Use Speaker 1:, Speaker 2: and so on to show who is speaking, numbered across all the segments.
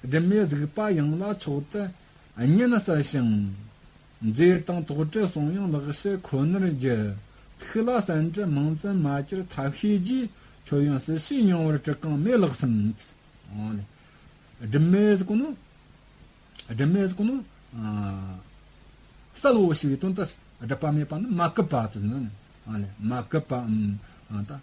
Speaker 1: སྒྲིབ་མེད་གཟིགས་པ་ཡང་ལ་མཆོག་ཏུ་བསྙེན་གསལ་ཞིང། མཛེས་དང་དོགས་དྲི་གསང་ཡང་ལག་བྱེད་ཁོ་ནར་བགྱི། ཐུགས་ལ་གསན་འདྲི་མང་བཙན་མ་གྱུར་ཐབས་ཤེས་རྗེས། མཆོད་ཡོན་ཟིལ་ཤེས་ཡང་བར་དྲི་གང་མེད་ལགས་སམ། སྒྲིབ་མེད་གཟིགས་ནོ། སྒྲིབ་མེད་གཟིགས་ནོ། གསལ་བའོ་ཞེས་པའི་དོན་ཏོ། སྒྲིབ་པ་མེད་པ་ནི་མ་བསྐུལ་བ་དང། མ་བསྐུལ་བའམ།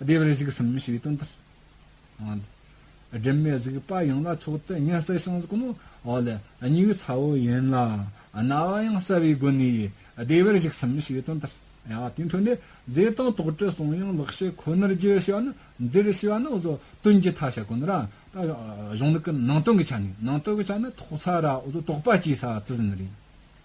Speaker 1: བདེ་བར་གཤེགས་སམ་ཞེས་པའི་དོན་ཏོ། སྒྲིབ་མེད་གཟིགས་པ་ཡིན་ལ་མཆོག་ཏུ་མཉེས་གསལ་ཤིང་གཟུགས་ནི་འོད་ལས་མྱུ་གུའི་ཚ་བོ་ཡིན་ལ་རྣ་བ་ཡང་གསལ་བའི་སྒོ་ནས་བདེ་བར་གཤེགས་སམ་ཞེས་པའི་དོན་ཏོ། དེའི་དོན་ནི་རྫས་དང་དོགས་དྲི་གསུང་དབྱིངས་ལག་ཤེས་ཁོ་ནར་བརྗོད་ཞེས་པ་ནི་འདིར་ཞེས་པ་ནི་བཟོ་དོན་གྱི་མཐའ་བྱ་ཀུན་རང་དང་གཞུང་ལུགས་ཀྱི་ནང་དོན་གྱི་ཆ་ནས་ནང་དོན་གྱི་ཆ་ནི་དོགས་ཚ་ར་བཟོ་དོགས་པ་སྐྱེས་ས་དེ་ཟིན་རེད།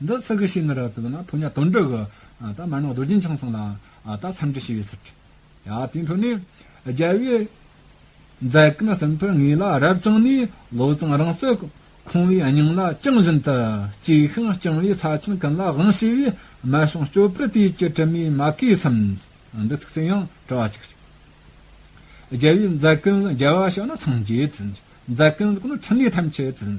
Speaker 1: འདི་ཚིག་གི་ཤེས་ནི་རགས་ཙིག་ན་ཕོ་ཉ་དོན་དྲུག་གི། ད་མར་ནག་རྡོ་རྗེ་འཆང་གསུངས་ལ། ད་མཚམས་འདྲི་ཞི་བའི་ཚུལ་དྲི། ཡང་དེའི་འཕྲོ་ནས། རྒྱལ་བའི། མཛད་ཀུན་ཟིན་པར་ངེས་ལ་རབ་བཅིངས་ནས། བློ་བཟང་རང་བསོད། ཁོང་བའི་སྙིང་ལ་བཅིངས་བཞིན་དུ། གཅིག་ཤིང་བཅིང་བའི་ཚ་ཆེན་ཀུན་ལ་དབང་བྱས་པའི། སྨད་ཤོང་སྐྱོ་པོའི་དུས་ཀྱི་དྲི་མའི་མ་གའི་མཚམས། འདི་ཐུགས་བརྩེ་ཡང་དྲི་བ་གཅིག་ཤོག། རྒྱལ་བའི་མཛད་ཀུན་ཟིན་རྒྱལ་བ་ཤོག་ན་སངས་རྒྱས་ཀུན། མཛད་ཀུན་ཟིན་ཀུན་ནི་ཕྲིན་ལས་ཐམས་ཅད་ཀུན།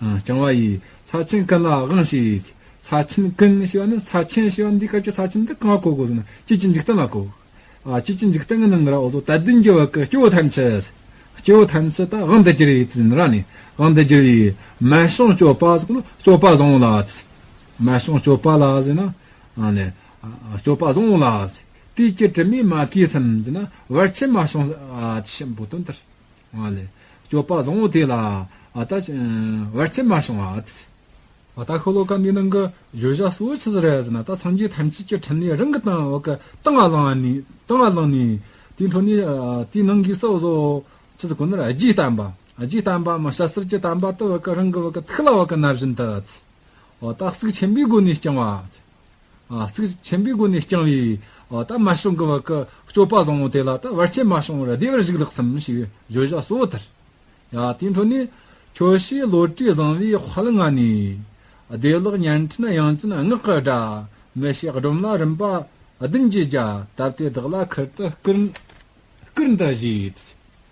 Speaker 1: རྐྱང་བ་ཡི། ཚར་ཆེན་ཀུན་ལ་དབང་ཞེས་ཡོད། ཚར་ཆེན་ཀུན་ཞེས་པ་ནི་ཚར་ཆེན་ཞེས་པ་ནི་འདིའི་སྐབས་ཀྱི་ཚར་ཆེན་འདི་གང་བཀོད་དགོས་ཟེར་ན་དཔྱིད་ཀྱི་འཇིག་རྟེན་ལ་བཀོད། དཔྱིད་ཀྱི་འཇིག་རྟེན་གྱི་ནང་གི་ར་འོ་དོ་ད་དུས་འགྱུར་བ་ཀུན་སྐྱེ་བོ་ཐམས་ཅད། སྐྱེ་བོ་ཐམས་ཅད་དང་དབང་དུ་གྱུར་ཡོད་ཟེར་ན་ར་ནི་དབང་དུ་གྱུར་ཡོད། མལ་ཤང་སྤྱོད་པ་སོགས་ལ་སྤྱོད་པ་བཟང་བོ་ལ། མལ་ཤང་སྤྱོད་པ་ལ་ཟེར་ན། སྤྱོད་པ་བཟང་བོ་ལ། དུས་ཀྱི་དྲི་མས་མ་གོས་སམ་ཟེར་ན་བར་ཆད་མ་བྱུང། ཞེས་འབོད་དོན་ལྟར། སྤྱོད་པ་བཟང་བོ་དེ་ལ་ད་བར་ཁྱིམ་མ་བྱུང་བ། ད་ཤོ་ལོ་ཀ་འདི་ནང་གི་བརྗོད་བྱ་གཙོ་བོ་ཆི་ཟེར་རེད་ཟེར་ན་ད་སངས་རྒྱས་ཐམས་ཅད་ཀྱི་ཕྲིན་ལས་རང་གི་སྟེང་འོག་གི་སྟེང་ལ་ལངས་ནས་སྟེང་ལ་ལངས་ནས་དེའི་འཕྲོ་ནས་དེའི་ནང་གི་སྲོག་གཟོ་ཆི་ཟེར་ཁོ་ནར་རྗེས་བསྟན་པ་རྗེས་བསྟན་པ་མ་ཤ་སེར་གྱི་བསྟན་པ་ད་བར་གི་རང་གི་ཐུགས་ལ་བར་གི་ན་བཞིན་དུ། ད་གཟུགས་ཆེན་པོའི་སྒོ་ནས་བསྐྱང་བ། ཚིག་ཆེན་པོའི་སྒོ་ནས་བསྐྱངས་བས། ད་མ་བྱུང་གི་བར་གྱི་སྤྱོད་པ་བཟང་བོ་དེ་ལ་ད་བར་ཆད་མ་བྱུང་བར་བདེ་བར་གཞུག་ལགས་སམ་ཞེས་བརྗོད་བྱ་གཙོ་བོ་དེར། དེའི་འཕྲོ་ནི། ཁྱོད་ཤེས་བློ་གྲོས་བཟང་བས་བྷ་ལི་ང་ནི། བདེ་བླག་བརྙན་འཕྲིན་ཡང་ཅིན་སྔགས་ཀྱི་སྒྲ། མི་ཤེས་སྒྲོམ་ལ་རིམ་པ་བདུན་གྱིས་བརྒྱ། བཏབ་སྟེ་བདག་ལ་ཁུར་དུ་བསྐུར། བསྐུར་འདི་བཞེས།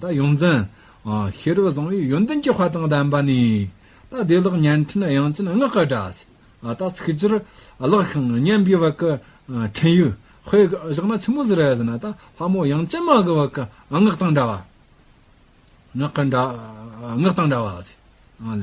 Speaker 1: ད་ཡོངས་འཛིན། ཤེས་རབ་བཟང་བོའི་ཡོན་ཏན་གྱི་དཔའ་དང་ལྡན་པ་ནི། ད་བདེ་བླག་བརྙན་འཕྲིན་དབྱངས་ཅན་ངག་གི་སྒྲ། ད་ཚིག་སྦྱོར་བཀླགས་ཤིང་སྙན་པའི་བར་གྱི་འཕྲིན་ཡིག། དཔེ་བཞག་ན་ཆུ་མོ་ཟེར་བས་ཟིན། ད་ལྷ་མོ་དབྱངས་ཅན་མ་གི་བར་གྱི་ངག་དང་འདྲ་བ། ངག་དང་འདྲ་བ།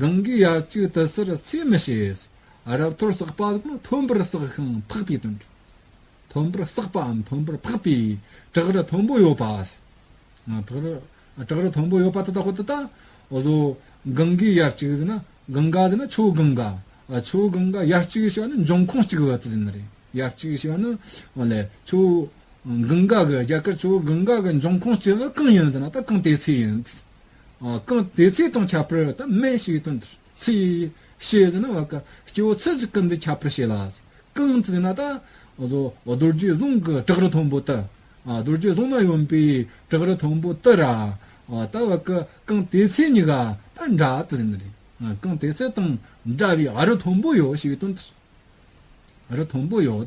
Speaker 1: གང་གིས་ཡ་གཅིག་དུ་སེར་ཚེས་མི་ཤེས། རབ་འཐོར་བསགས་པ་དང་མཐོན་པོར་བསགས་ཤིང་འཕགས་པའི་དོན། མཐོན་པོར་བསགས་པའམ་མཐོན་པོར་འཕགས་པའི་བྲག་རི་མཐོན་པོ་ཡོད་པ། བྲག་རི་མཐོན་པོ་ཡོད་པ་དེ་དག་གོ་དེ་དག་གཟོ། གང་གིས་ཡ་གཅིག་ཟིན་ན་གང་ག་ཟིན་ན་ཆུ་གང་ག། ཆུ་གང་ག་ཡ་གཅིག་ཞེས་པ་ནི་འབྱུང་ཁུངས་གཅིག་བ་དེ་ཟིན་ནི་རེད། ཡ་གཅིག་ཞེས་པ་ནི། ཆུ་གང་ག་གི་རྒྱ་གར་ཆུ་གང་ག་གི་འབྱུང་ཁུངས་གཅིག་གང་ཡིན་ཟིན་ན་ད་གང་དེའི་ཚེ་ཡིན། གང་དེ་ཚེ་དང་ཁྱབ་པར་དང་སྨན་ཞིག་དང་ཚེ། ཤེས་ཟིན་ན་བ་ཀ་སྐྱེ་བོ་ཚེ་གཅིག་གམ་དེ་ཁྱབ་པར་བྱས་ལ། གང་ཟིན་ན་ད། རྡོ་རྗེ་གཟུངས་ཀྱི་བྲག་རི་མཐོན་པོ་དུ། རྡོ་རྗེ་གཟུངས་མ་ཡོན་པའི་བྲག་རི་མཐོན་པོ་དུ་ར། ད་བ་ཀ་གང་དེ་ཚེ་གཉི་ག་ད་འདྲ་དུ་ཟིན་ནི། གང་དེ་ཚེ་དང་འདྲ་བའི་རི་མཐོན་པོ་ཡོད་ཞིག་དང། རི་མཐོན་པོ་ཡོད།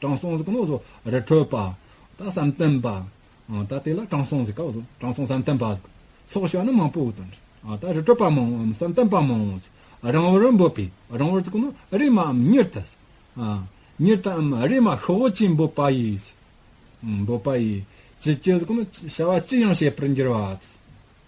Speaker 1: དྲང་སྲོང་གཟུགས་ནོ་ཟོ་རི་ཁྲོད་པ། ད་བསམ་གཏན་པ། ད་དེ་ལ་དྲང་སྲོང་གཟིགས་ཀ། དྲང་སྲོང་བསམ་གཏན་པ། ཚོགས་བྱ་ནི་མང་པོའི་དོན། ད་རི་ཁྲོད་པ་མང་བོ་བསམ་གཏན་པ་མང་བོ། རང་བོར་འབོད་པའི་རང་བོར་གཟུགས་ནོ་རེ་མ་འམ་ཉེར་ཐལ། ཉེར་ཐལ་འམ་རེ་མ་ཤོ་བོ་ཅི་འབོད་པ་ཡིས། འབོད་པ་ཡིས། ཅི་བྱས་གཟུགས་ནོ་བྱ་བ་ཅི་ཡང་བྱེད་པར་འགྱུར་བ།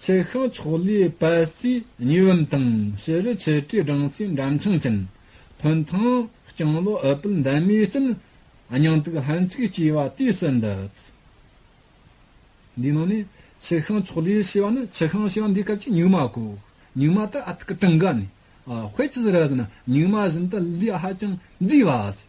Speaker 1: ཚེ་ཤང་ཕྱོགས་ལས་པད་རྩིས་གཉིས་བུམ་དང་ཕྱི་རུ་ཆེ་གྲས་སྦྲང་སའི་འགྲམ་ཆང་ཅན། ཐོན་ཐང་རྐྱང་ལོ་ཨུ་པུལ་འདམ་མའི་སྤྲིན། སྙིང་སྟུག་ལྷན་ཅིག་སྐྱེས་པ་དུས་སུ་འདི། འདིའི་ནང་ནས་ཚེ་ཤང་ཕྱོགས་ལས་ཞེས་པ་ནི་ཚེ་ཤང་ཞེས་པ་འདིའི་སྐབས་ཀྱི་ཉུག་མ་གོ། ཉུག་མ་དེ་ཨ་ཐུག་གི་གྲངས་ཀ་ནི། དཔེ་ཇི་ལྟར་ཟེར་ན་ཉུག་མ་བཞིན་དུ་ལུས་ཧ་ཅང་མཛེས་པ་ཟེར།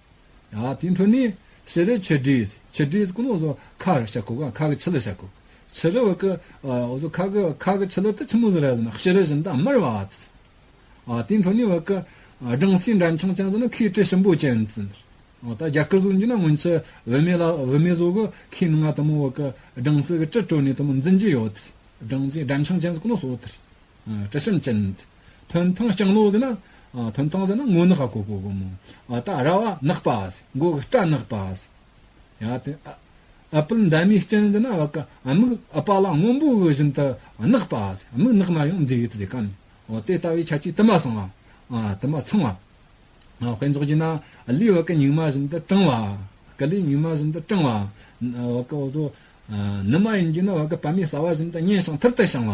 Speaker 1: དེའི་འཕྲོ་ནི། ཤེས་རབ་ཆོས་དྲིས། ཆོས་དྲིས་སྐུ་ནོ་སོ་ཁ་ར་ཤ་ཁུ་ཁ་ཁ་གི་ཆི་ལ་ཤ་ཁུ། ཆི་ར་བ་ཀི། སོ་ཁ་ཁི་ཁ་ཁི་ཆི་ལ་ཏི་ཆི་མུ་ཟི་ར་ཟི་ན་ཤི་ར་ཤི་ན་ཏི་ཨ་མ་ར་བ་ཨ་ཏི། དེའི་འཕྲོ་ནི་བ་ཀི། སྦྲང་སྲིའི་འདྲ་འཆང་ཅན་ཟི་ན་ཁིའི་ཏྲི་ཤི་འབོ་ཅན་ཏི་ཟི། ད་རྒྱ་ཀི་ཟུག་འཇུ་ན་སྔོན་ཆི་བི་མེ་ལ་བི་མེ་ཟོ་གི་ཁིའི་ནང་ང་ཏི་མོ་བ་ཀི། སྦྲང་སྲི་གི་ཏྲི་ཏྲོ་ནི་ཏི་མོ་འཛིན་གྱི་ཡོ་ཏི། སྦྲང་སྲིའི་འདྲ་འཆང་ཅན་ཟི་སྐུ་ནོ་སོ་ཨོ་ཏི། དྲི་ཞིམ་ཅན། ཐུན་ཐང་ལྕང་ལོ་ཟེར་ན། ཐུན་ཐང་ཟེར་ན་སྔོ་ནག་ག་གོ་གོ་གོ་མོ། ད་ར་བ་ནག་པ། མགོ་གི་སྐྲ་ནག་པ། ཡང་དེ། ཨ་པིལ་འདབ་མའི་སྐྱེན་ཟེར་ན། མིག་ཨ་པ་ལ་སྔོན་པོ་བཞིན་དུ་ནག་པ། མིག་ནག་ན་ཡང་མཛེས་ཡོད་ཟེར་ག་མེད། དེ་ལྟ་བུའི་ཆ་ཆའི་དུ་མ་གསང་བ། དུ་མ་ཚང་བ། དཔེ་འཇོག་བགྱིས་ན། ལུས་བ་ཀི་ཉུག་མ་བཞིན་དུ་སྐྲང་བ། ཀི་ལུས་ཉུག་མ་བཞིན་དུ་སྐྲང་བ། ནུ་མ་ཡིན་བགྱིས་ན། བ་ཀི་བ་མའི་ཟ་བ་བཞིན་དུ་སྙན་ཞིང་ཐུར་དུ་བཤང་བ།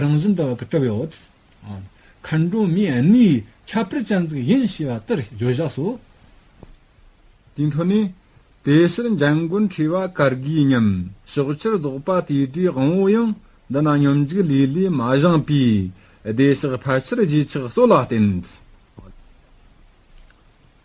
Speaker 1: རང་བཞིན་དག་གི་སྤྲོ་བའི་འོད། མཁའ་འགྲོ་མའི་གནས་ཡི་ཁྱབ་སྤེལ་སྤྱན་གཟིགས་ཡིན་ཞེས་པ་ལྟར་བརྗོད་བཞག་སོ། དེའི་མཐུ་ནི། དེ་ཕྱིར་འཇམ་མགོན་ཁྲི་བ་གར་དགུའི་སྙོམས་ཞོག་ཕྱིར་རྫོགས་པ་དེ་དྲིའི་དབང་བོ་ཡང་འདི་ན་སྙོམས་འཇུག་ལུས་ལས་མ་བཞེངས་པའི་བདེ་གཤེགས་ཕལ་ཆེར་རྗེས་ཆགས་སོགས་ལ་བརྟེན།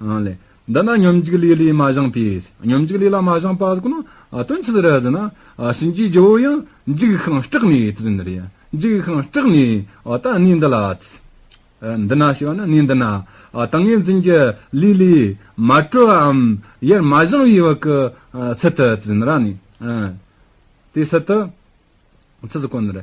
Speaker 1: ལས། འདི་ན་སྙོམས་འཇུག་ལས་ལས་མ་བཞེངས་པས། སྙོམས་འཇུག་ལས་ལ་མ་བཞེངས་པ་གཟུགས་ན། དོན་ཚིག་རེ་ཟིན་ན། གཤིན་རྗེའི་རྒྱལ་པོ་ཡང། འཇིགས་ཤིང་སྐྲག་ནས་དེ་ཟིན་རེ། འཇིགས་ཤིང་སྐྲག་ནས། ད་གནས་འདི་ལ། འདི་ན་ཞེས་པ་ནི་གནས་འདི་ན། ད་ངེ་འཛིན་གྱི་ལས་ལས། མ་གྲོལ་བའམ། ཡར་མ་བཞེངས་བའི་བར་གྱི། ཚུལ་དུ་དེ་ཟིན་ར་ནི། དེའི་ཚུལ་དུ། ཚུལ་དུ་བསྐོན། དེ།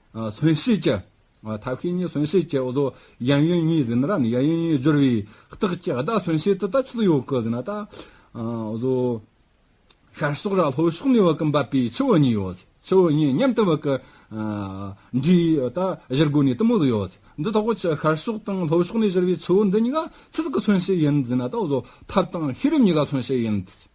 Speaker 1: ཟོན་ཤེས་ཀྱི། ཐབས་ཤེས་གཉིས་ཟོན་ཤེས་ཀྱི་འོ་ཟོ་གཡན་གཡོན་གཉིས་ཟིན་ར་ནི་གཡས་གཡོན་གཉིས་སྦྱོར་བའི་རྟགས་ཀྱི་བརྡ་ཟོན་ཤེས་དུ་ད་ཆུ་ཟི་ཡོ་ཀི་ཟིན་ར་ད་འོ་ཟོ། ཤར་ཕྱོགས་ར་ལྷོ་ཕྱོགས་ནས་བ་ཀི་འབབ་པའི་ཆུ་བོ་གཉིས་ཡོ་ཟི་ཆུ་བོ་གཉིས་མཉམ་དུ་བ་ཀི་འདྲིས་ཡོ་ད་གཞིར་དགོས་ནས་དུ་མོ་ཟི་ཡོ་ཟི་འདི་ཐོག་ཆུ་ཤར་ཕྱོགས་དང་ལྷོ་ཕྱོགས་ནས་གཞིར་བའི་ཆུ་བོ་འདི་གཉིས་ཀ་ཆུ་ཟི་ཀི་ཟོན་ཤེས་ཡིན་ཟིན་ར་ད་འོ་ཟོ་ཐབས་དང་ཤེས་རབ་གཉིས་ཀ་ཟོན་ཤེས་ཡིན་ཟི།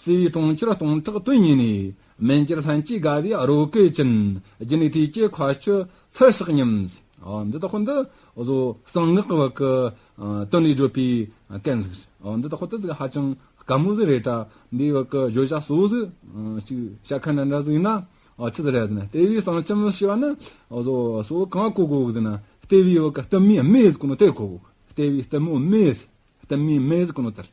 Speaker 1: སི་ཝི་གྲོང་ཁྱེར་སྟོང་ཕྲག་དོན་གཉིས་ནས་མན་ཇར་ལྷན་སྐྱེས་དགའ་བའི་རོ་ཀེ་ཅིན་རྒྱུན་ལས་ཐོན་སྐྱེད་ཁ་ཆུ་ཚལ་ཤག་ཉམས། འདི་དག་ཁོ་འདི་བཟོ་གསང་ངག་གི་བར་གྱི་དོན་ལས་བརྗོད་པའི་སྐད་ཟིག་རེད། འདི་དག་ཁོ་ད་ཟིག་ཧ་ཅང་དཀའ་མོ་ཟིག་རེད་གྲ་འདིའི་བར་གྱི་བརྗོད་བྱ་གཙོ་བོ་ཟིག་ཅིག་བཤད་མཁན་འདྲ་འདྲ་ཟིག་ན་ཆི་ཟིག་རེད་ཟེར་ན་ལྟེ་བའི་གསང་ཁྱམས་ཞེས་པ་ནི་བཟོ་གསོ་གང་གོ་དགོས་ཟེར་ན་ལྟེ་བའི་བར་གྱི་གཏུམ་མོའི་སྨད་ཟིག་གོ་ནོ་དེ་གོ་དགོས་ལྟེ་བའི་གཏུམ་མོའི་སྨད་ཟིག་གཏུམ་མོའི་སྨད་ཟིག་གོ་ནོ་དེ་རེད།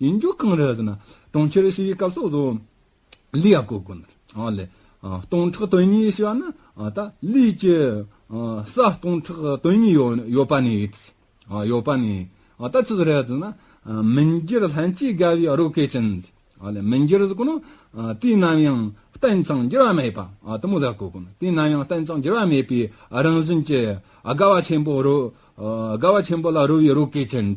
Speaker 1: ཡིན་རྒྱུ་གང་རེད་ཟེར་ན། གྲོང་ཁྱེར་ཞི་བའི་སྐབས་སོགས་སུ། ལི་ཡ་ཀོ་ཀོན། ལི། སྟོང་ཕྲག་དོན་གཉིས་ཞེས་པ་ནི། ད་ལིས་ཀྱི། ས་སྟོང་ཕྲག་དོན་གཉིས་ཡོད་པ་ནི། ཡོད་པ་ནི། ད་ཅི་ཟེར་རེད་ཟེར་ན། མི་འགྱུར་ལྷན་སྐྱེས་དགའ་བའི་རོ་ཀེ་ཅན། ལི། མི་འགྱུར་ཟེར་ཀོ་ནི། དུས་ནམ་ཡང་བརྟན་ཅིང་འགྱུར་བ་མེད་པ། དུ་མོ་ཟེར་ཀོ་ཀོན། དུས་ནམ་ཡང་བརྟན་ཅིང་འགྱུར་བ་མེད་པའི་རང་བཞིན་གྱི། དགའ་བ་ཆེན་པོ་རོ། དགའ་བ་ཆེན་པོ་ལ་རོལ་བའི་རོ་ཀེ་ཅན།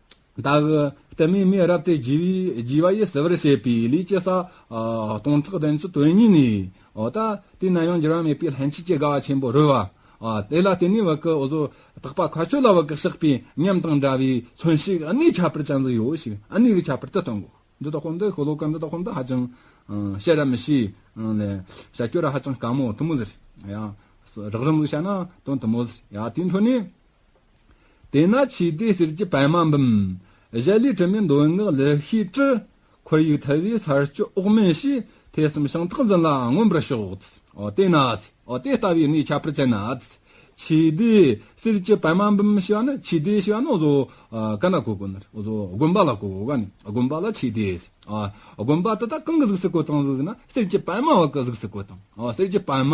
Speaker 1: བདག་གི་ལྟས་མེད་མའི་རབས་ཏེ་བགྱི་བ་ཡིས་བསལ་བར་བྱེད་པའི་ལས་ཀྱི་ས། སྟོང་ཕྲག་བདུན་ཅུ་དོན་གཉིས་ནི། ད་དེ་ན་ཡང་འགྱུར་བ་མེད་པའི་ལྷན་སྐྱེས་ཀྱི་དགའ་བ་ཆེན་པོ་རོལ་བ། དེ་ལ་བརྟེན་ནས་བག་གི་བཟོ་དག་པ་མཁའ་སྤྱོད་ལ་བག་གི་གཤེགས་པའི་ཉམས་དང་འདྲ་བས་མཚོན་ཞིག་གནས་ཁྱབ་པར་བྱ་འདི་ཡོད་ཞིག་གནས་ཀྱི་ཁྱབ་པར་དེ་སྟོན་གོ། འདི་དག་ཧོན་ཏེ་ཤོ་ལོ་ཀ་འདི་དག་ཧོན་ཏེ་ཧ་ཅང་བཤད་ར་མི་ཤེས། བྱ་སྤྱོད་ར་ཧ་ཅང་དཀའ་མོ་དུ་མོ་ཟེར། རགས་རིམ་དུ་བྱ་ན་དོན་དུ་མོ་ཟེར། དེའི་འཕྲོ་ནས། དེས་ན་ཆོས་སྡེའི་གསེར་གྱི་པདྨ་འབུམ། གཞལ་ལེའི་དྲི་མེད་མདོའི་ངག་ལས་ཤེས། དྲི་ཁོལ་ཡུལ་ཐལ་བའི་ཚར་གཅོད་འོག་མིན་ཞེས། ཐོས་བསམ་ཤིང་རྟགས་འཛིན་ལ་མངོན་པར་ཞོག། དེས་ན་དེ་ལྟ་བུའི་གནས་ཁྱབ་པར་བྱས་ན། ཆོས་སྡེའི་གསེར་གྱི་པདྨ་འབུམ་ཞེས་པ་ནི་ཆོས་སྡེའི་ཞེས་པ་ནི་བཟོ་དཀའ་ན་གོ་དགོས་ནི། དགོན་པ་ལ་གོ་དགོས་ཀ་ནི་དགོན་པ་ལ་ཆོས་སྡེ། དགོན་པ་དེ་དག་གང་གི་གཟུགས་སུ་གོ་དང་གཟུགས་ན་གསེར་གྱི་པདྨ་བ་གི་གཟུགས་སུ་གོ་དང་གསེར་གྱི་པདྨ།